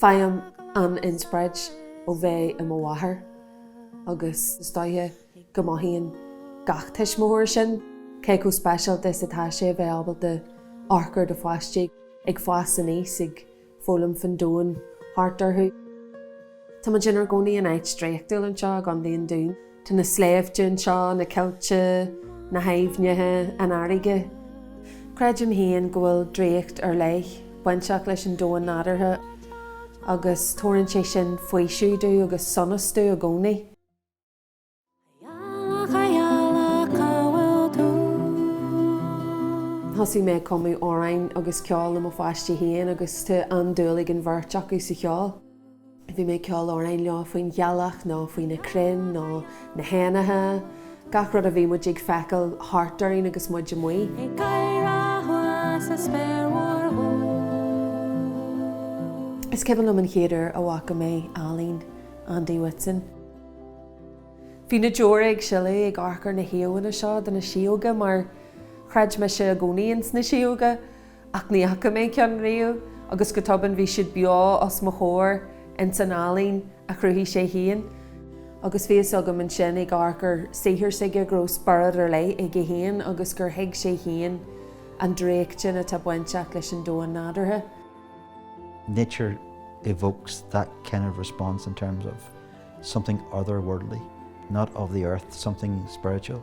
Faighim an-inspioráid ó bheith i mo mháthair agus is dóiche go mothaíonn gach tuismitheoir sin cé chomh speisialta is atá sé a bheith ábalta amharc ar do pháistí ag fás aníos, ag foghlaim faoin domhan thart orthu. Táimid inár gcónaí in áit draíochtúil anseo i gContae an Dúin. Tá na sléibhte anseo, na coillte, na haibhneacha, an fharraige. Creidim féin go bhfuil draíocht ar leith bainteach leis an domhan nádúrtha agus tabharann sé sin faoiseamh domh agus sonas domh i gcónaí. Thosaigh mé ag cumadh amhráin agus ceol le mo pháistí féin agus tá an-dúil ag an bheirt acu sa cheol. Bhí mé ag ceol amhráin leo faoin ghealach nó faoi na crainn nó na héanacha, gach rud a bhí muid ag feiceáil thart orainn agus muid amuigh. Ag gáire amháin sa spéir mhór dhubh. Is cuimhin liom an chéad uair a bhfaca mé ealaín Andy Whitson. Bhí na deora ag sileadh ag amharc ar na híomhánna seo de na sióga mar chreid mise i gcónaí ins na sióga. Ach ní fhaca mé ceann riamh agus go tobann bhí siad beo os mo chomhair ins an ealaín a chruthaigh sé féin. Agus bhí fhios agam ansin ag amharc ar saothar s'aige go raibh spiorad ar leith aige féin agus gur thuig sé féin an draíocht sin atá bainteach leis an domhan nádúrtha. Nature evokes that kind of response in terms of something otherworldly, not of the earth, something spiritual.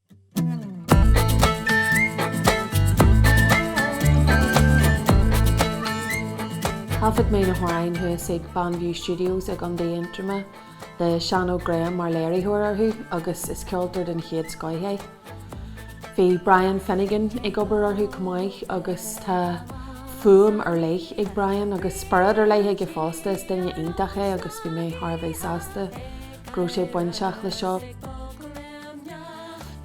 Thaifead mé na hamhráin thuas ag Bannview Studios i gContae Aontroma le Seán Óg Graham mar léiritheoir orthu agus is ceoltóir den chéad scoith é. Bhí Brian Finnegan ag obair orthu chomh maith agus tá fuaim ar leith ag Brian agus spiorad ar leith aige fosta, is duine iontach é agus bhí mé thar a bheith sásta. go raibh sé bainteach leis seo.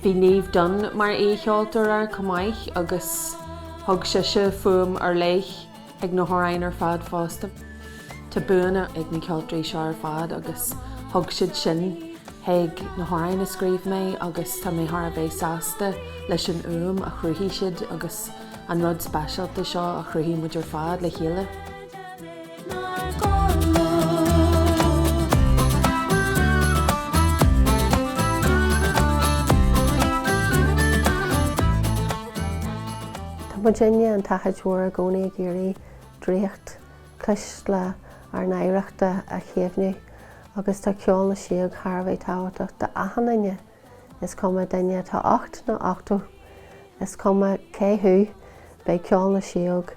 Bhí Niamh Dunne mar aoicheoltóir air chomh maith agus thug sise fuaim ar leith ag na hamhráin ar fad fosta. Tá buanna ag na ceoltóirí seo ar fad agus thug siad sin chuig na hamhráin a scríobh mé agus tá mé thar a bheith sásta leis an fhuaim a chruthaigh siad agus an rud speisialta seo a chruthaigh muid ar fad le chéile. Tá muidinne An tSnáthaid Mhór i gcónaí ag iarraidh draíocht chuisle ár n-oidhreachta a chaomhnú agus tá Ceol na Sióg thar a bheith tábhachtach d'achan duine, is cuma duine atá ocht nó ochtó, is cuma cé thú, beidh Ceol na Sióg